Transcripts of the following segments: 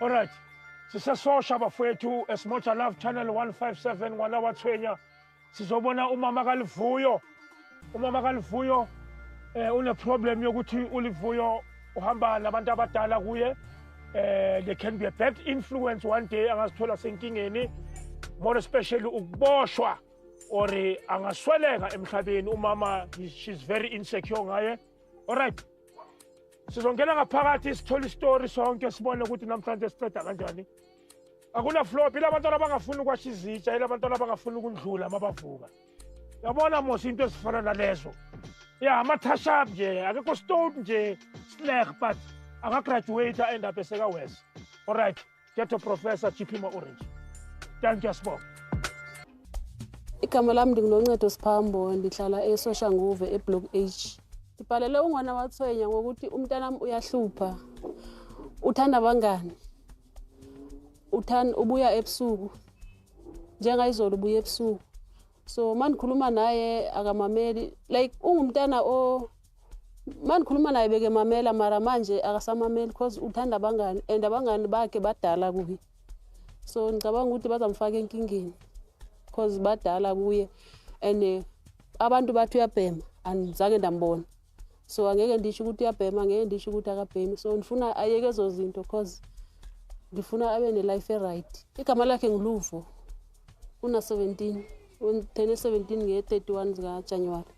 Alright. Sisesosha bafowethu eSmota Love Channel 157 ngwana wathwenya. Sizobona umama kaLivuyo. Umama kaLivuyo eh une problem yokuthi uLivuyo uhamba nabantu abadala kuye. Eh they can be a bad influence one day angazithola senkingeni. More especially ukuboshwa or angasweleka emhlabeni umama she's very insecure ngaye. Alright. Sizongena ngaphakathi sithole istory sonke sibone ukuthi namhlanje siqeda kanjani. Akuna flop ilabantwana abangafuni ukwasha izitsha ilabantwana abangafuni ukundlula uma bavuka. Yabona mos into ezifana nalezo. Ya amathasha nje akekho stone nje slack but akagraduate end up eseka wes. Alright. Ghetto Professor Chiphimo Orange. Thank you, Sbo. Igama lami ndingunoncedo Siphambo ndihlala eSoshanguve eBlock H. Ndibhalele ungwana wathwenya ngokuthi umntanami uyahlupha. Uthanda abangani. Uthanda ubuya ebusuku. Njengayizolo ubuya ebusuku. So mandikhuluma naye akamameli like ungumntana o mandikhuluma naye beke mamela mara manje akasamameli because uthanda abangani and abangani bakhe badala kuye so ngicabanga ukuthi bazamfaka enkingeni because badala kuye and eh, abantu bathi uyabhema andizange ndambona so angeke ndisho ukuthi uyabhema angeke ndisho ukuthi akabhemi so ndifuna ayeke ezo zinto because ndifuna abe ne-life e-right igama lakhe nguluvo una-17 ngithene 17 nge-31 zikajanuwari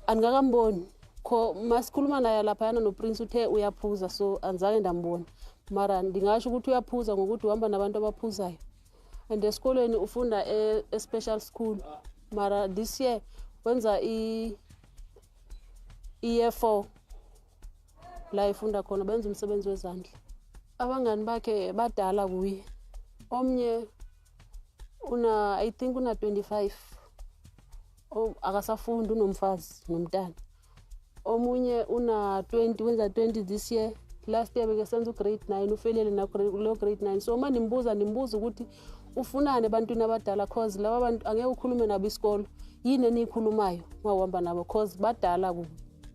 andikakamboni kho masikhuluma naye laphayana noprince uthe uyaphuza so andizange ndambona mara ndingasho ukuthi uyaphuza ngokuthi uhamba nabantu abaphuzayo and esikolweni ufunda e, e-special school mara this year wenza i-year four la efunda khona benza umsebenzi wezandla abangani bakhe badala kuye omnye una i think una 25 akasafundi unomfazi nomntana omunye una 20 wenza 20 this year last year beke senza ugrade 9 ufelele nakulo grade 9 so uma nimbuza nimbuza ukuthi ufunani ebantwini abadala cause laba bantu angeke ukhulume nabo isikolo yini eniyikhulumayo mawuhamba nabo cause badala kubo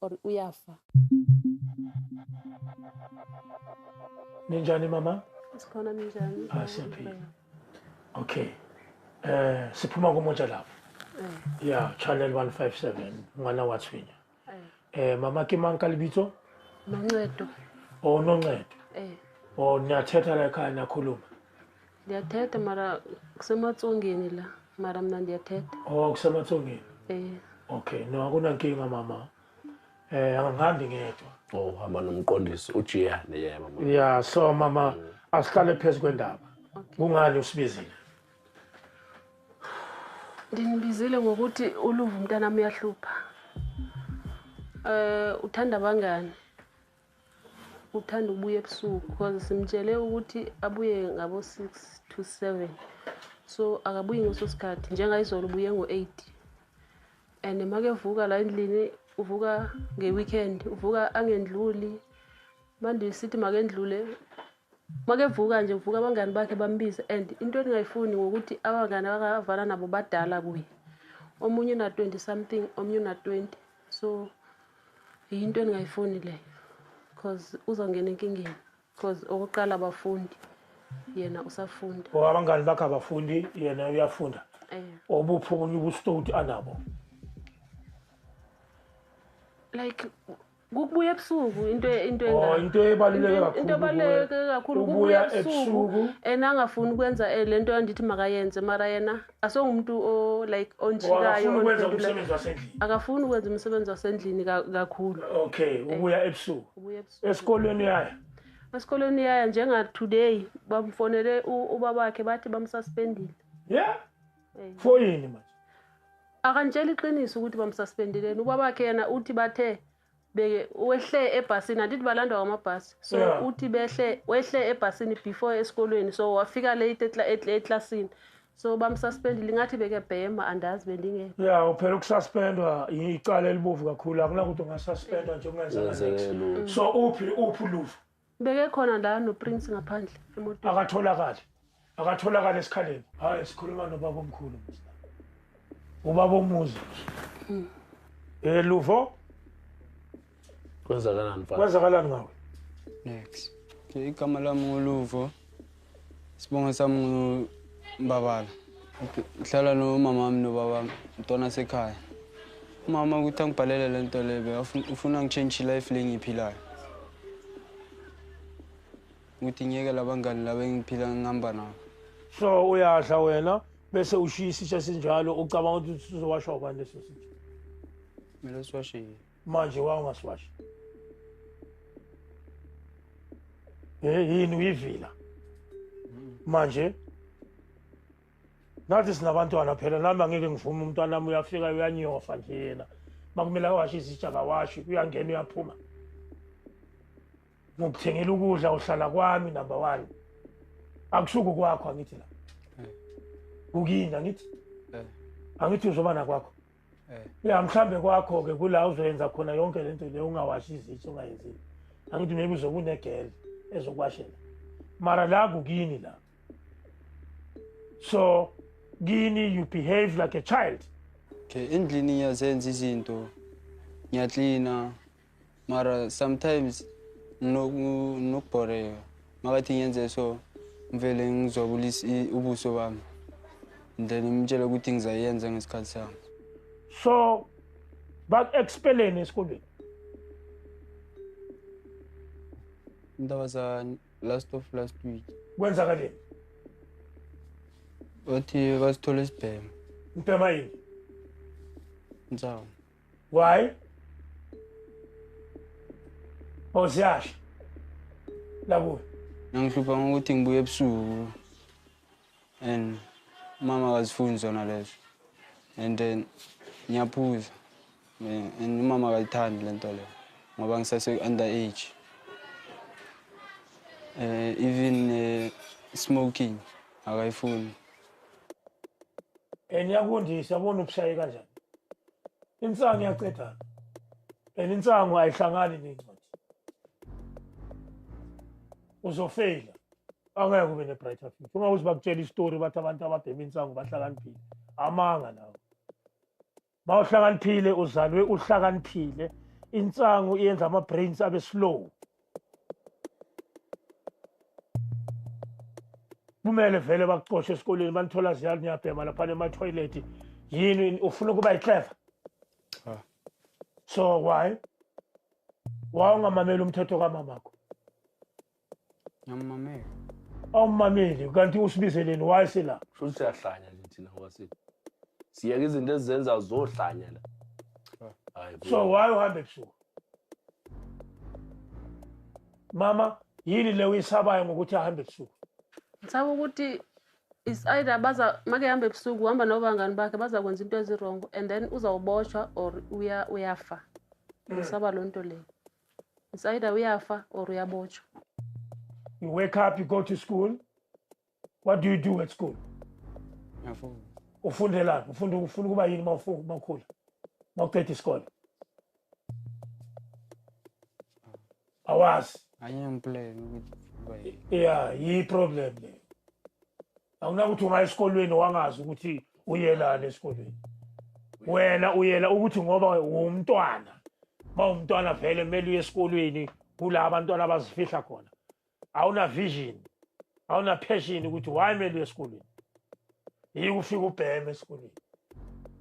or uyafa ninjani mama sikhona ninjani ah siyaphila okay eh siphuma kumoja lapho eh. yeah channel 157 ngwana wathwinya eh. eh mama ke manka libitso noncedo oh noncedo eh oh niyathetha la ekhaya nakhuluma Ndiyathetha mara kusematsongeni la mara mna ndiyathetha. Oh kusematsongeni. Eh. Okay, no akunankinga mama. Eh angihambi ngedwa. Oh hamba nomqondisi ujiyane yeah mama. Yeah, so mama mm. asihlale phezu kwendaba. Kungani usibizile? Ndinibizile ngokuthi uluvu mntanami uyahlupha. Eh uthanda bangani? Uthanda ukubuya ebusuku because simtshele ukuthi abuye ngabo-six to seven so akabuyi ngeso sikhathi njengayizolo ubuye ngo-eight and makevuka la endlini uvuka nge-weekend uvuka angendluli manje sithi makendlule makevuka nje uvuka abangani bakhe bambize and into endingayifuni ngokuthi abangani abakavala nabo badala kuye omunye una-twenty something omunye una-twenty so Yinto endingayifuni leyo because uzongena enkingeni because okokuqala abafundi yena usafunda. Or abangani bakhe abafundi yena uyafunda. Eh. Obuphi obunye ubustoti anabo? Like kukubuya ebusuku into into enga oh, into ebaluleke kakhulu into ebaluleke kakhulu kubuya ebusuku and angafuni ukwenza eh, lento andithi makayenze mara yena asewumuntu o like onjikayo akafuni ukwenza umsebenzi wasendlini kakhulu okay eh, ubuya ebusuku ubuya ebusuku esikolweni uyaya esikolweni uyaya njenga today bamfonele ubaba wakhe bathi bamsuspendile yeah eh. for yini manje akantshela iqiniso ukuthi bamsuspendileni ubaba wakhe yena uthi bathe beke wehle ebhasini andithi balandwa ngamabhasi so yeah. uthi behle wehle ebhasini before esikolweni so wafika late eklasini so bamsuspendile ingathi bekebhema andazi bendingekho ya uphela ukususpendwa icala elibovu kakhulu akunakuthi ungasuspendwa nje ungenza so uphi uphi uluvo Beke khona la no Prince ngaphandle emotweni. Akatholakali. Akatholakali esikhaleni. Hayi sikhuluma no baba omkhulu. Ubaba omuzi. Hmm. Eh Luvo. Kwenzakalani mfana? Kwenzakalani ngawe? Next. Igama lami nguLuvo. Sibonga sami ngumbabala. Ngihlala nomama wami nobaba wami, ntwana sekhaya. Umama ukuthi angibhalele le nto lebe, ufuna ngitshentshe life le ngiyiphilayo. Ukuthi ngiyeke labangani laba engiphila ngihamba nabo. So uyadla wena bese ushiya isitsha sinjalo ucabanga ukuthi sizowasha ubani leso sitsha? Mina siwashile. manje wa ungasiwashi eh yini uyivila manje nathi sinabantwana phela nami angeke ngivume umntwana wami uyafika uyanyofa nje yena makumele awashe izitsha kawashi uyangena uyaphuma ngokuthengela ukudla uhlala kwami number one akusuku kwakho angithi la kukini angithi angithi uzoba nakwakho eh. ya mhlambe kwakho-ke kula uzoyenza khona yonke le nto le ungawashi izitsha ungayenzile angithi maybe uzokunegele ezokwashela mara la kukini la so kini you behave like a child okay endlini ngiyazenza izinto ngiyaklina mara sometimes nokubhoreka makathi ngenze so ngivele ngizwabulisa ubuso bami then ngimtshele ukuthi ngizayenza ngesikhathi sami so baku-expeleni esikolweni indaba za last of last week kwenzakaleni bathi basithole isibhema ubhema yini nsawu Why? Or ziyasha. La kuwe. Ngihlupha ngokuthi ngibuye ebusuku. And mama akazifuni zona lezo. And then ngiyaphuza. Eh, and umama akayithandi le nto leyo ngoba ngisase-under age um even uh, smoking akayifuni and yakundisa bona ubusaye kanjani insangu iyacedana and insangu ayihlangani nencwadi uzofeyila angeke ube ne-brighter future uma uze bakutshela isitori bathi abantu ababhema insangu bahlakaniphile amanga lawo ma uhlakaniphile uzalwe uhlakaniphile insangu iyenza ama-brains abe slow kumele vele bakucoshe esikoleni banithola ziyalo niyabhema laphana emathoyilethi yini ufuna ukuba yiclever so why wawungamameli umthetho kamamakho ngiyamamela awumameli kanti usibizeleni why sila shuthi siyahlanya nje thina kwasini siyeke izinto ezizenza zohlanya la hayi so why uhambe ebusuku mama yini le uyisabayo ngokuthi ahambe ebusuku ngisaba ukuthi is either baza make hamba ebusuku uhamba nobangani bakhe bazakwenza into ezirongo and then uzawuboshwa or uya uyafa mm. ngisaba loo nto leyo is either uyafa or uyabotshwa you wake up you go to school What do you do at school? Ngiyafunda. Ufundelani? Ufunda ufuna ukuba yini uma ufu- uma ukhula? Uma uqeda isikole? Awazi. Anye ngiplan ukuthi uba yini. Yeah, yi problem le. Awunakuthi ungaya esikolweni wangazi ukuthi uyelani esikolweni. Wena uyela ukuthi ngoba uwumntwana. Uma umntwana vele kumele uye esikolweni kula abantwana abazifihla khona. awuna vision awuna passion ukuthi why mele uye esikolweni yike ufike ubheme esikolweni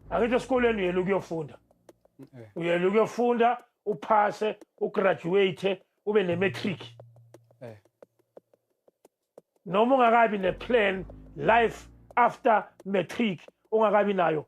angithi esikolweni uyela ukuyofunda eh. uyela ukuyofunda uphase ugraduate ube ne-matric eh. noma ungakabi ne-plan life after matric ungakabi nayo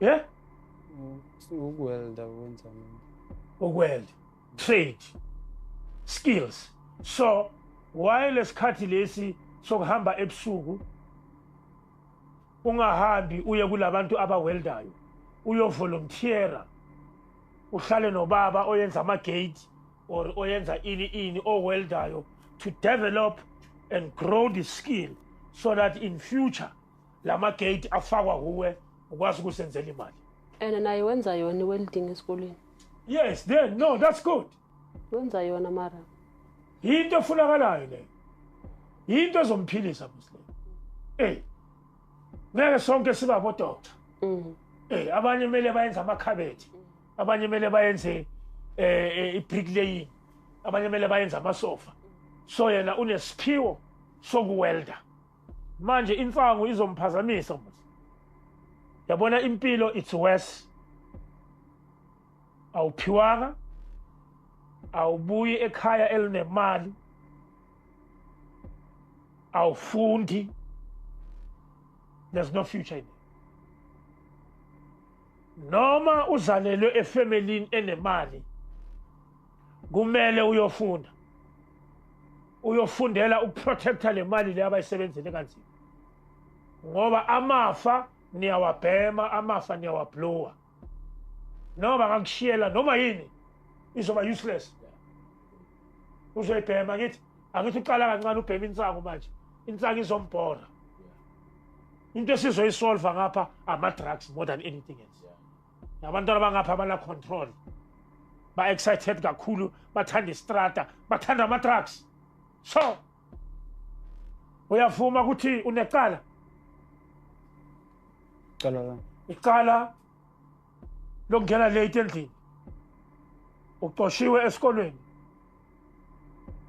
Yeah? Ukuwelda wenza ukuwelda trade skills so why lesikhathi lesi sokuhamba ebusuku ungahambi uye kulabantu abaweldayo uyovolunteera uhlale nobaba oyenza amagate or oyenza ini ini oweldayo to develop and grow the skill so that in future la magate afakwa kuwe ukwazi ukusenzela imali and naye wenza yona i-welding esikoleni yes then no that's good wenza yona mara yinto efunakalayo leyo yinto ezomphilisa muslim ey ngeke sonke siba bodokta mm. ey abanye kumele bayenze amakhabethi abanye kumele bayenze um ibricklaying abanye kumele bayenze amasofa so yena unesiphiwo sokuwelda manje insangu izomphazamisa mos yabona impilo it's worse awuphiwanga awubuyi ekhaya elinemali awufundi there's no future in it noma uzalelwe efemelini enemali kumele uyofunda uyofundela ukuprotecta le mali le abayisebenzele kanzima ngoba amafa niyawabhema amafa niyawablowa noma bangakushiyela noma yini izoba useless uzoyibhema ngithi angithi uqala kancane ubhema insangu manje insangu izombhora into esizoyisolva ngapha ama-drugs more than anything else nabantwana bangapha abana control ba excited kakhulu bathanda istrata bathanda ama trucks so uyavuma ukuthi unecala cala la icala lokungena late endlini uxoshiwe esikolweni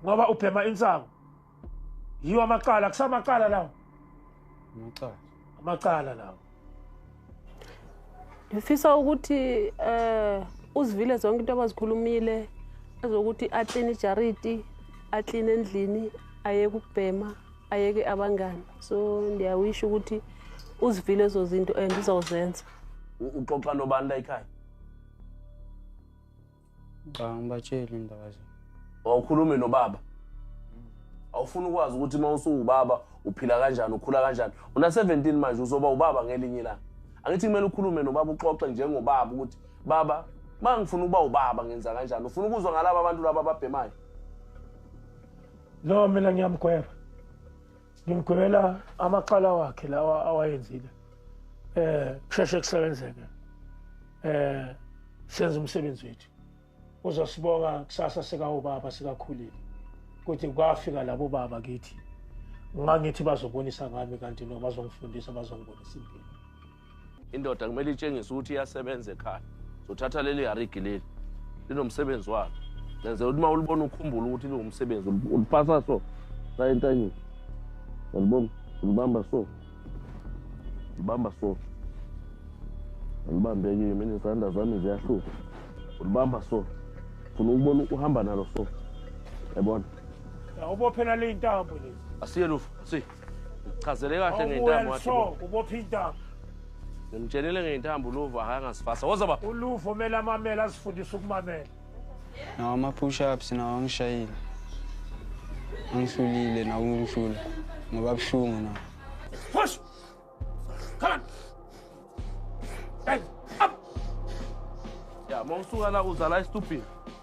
ngoba ubhema insangu yiwo amacala kusamacala lawo amacala amacala lawo ngifisa ukuthi eh uzivile zonke into abazikhulumile ezokuthi akline ijariti akline endlini ayeke ukubhema ayeke abangani so ndiyawisho ukuthi uzivile ezo zinto and uzawuzenza uxoxa nobani la ekhaya Cha ngibatshele indaba zami. Wawukhulume nobaba. Awufuna ukwazi ukuthi uma usuwubaba uphila kanjani ukhula kanjani. Una 17 manje uzoba ubaba ngelinye ilanga. Angithi kumele ukhulume nobaba uxoxe njengobaba ukuthi baba uma ngifuna ukuba ubaba ngenza kanjani ufuna ukuzwa ngalaba abantu laba ababhemayo no mina ngiyamgweba ngimgwebela amacala wakhe lawa awayenzile eh kusheshe kusebenzeke eh senza umsebenzi wethu uzosibonga kusasa sikawubaba sikakhulile kuthi kwafika labo baba kithi ngangithi bazobonisa ngami kanti no bazongifundisa bazongibonisa impilo indoda kumele itshengise ukuthi iyasebenza ekhaya zothatha leli yarigi leli linomsebenzi walo lenze ukuthi uma ulibona ukhumbula ukuthi liwumsebenzi uliphatha so saye entanyeni yalibona ulibamba so ulibamba so ulibambekile mina izandla zami ziyahluka ulibamba so funa ukubona uhamba nalo so yabona ubophela le intambo lezi asiye lufu asiye Chazele kahle ngentambo wathi. Ubopha intambo. Ngimtshenile ngentambo uluvo akangasifasa. Woza ba. Uluvo mele amamela asifundise ukumamela. Nawo ama push ups nawo angishayile. Angihlulile nawo ungihlula. Ngoba buhlungu nawo. Push. Come on. Hey, up. Ya, mawusuka la uzala istupini.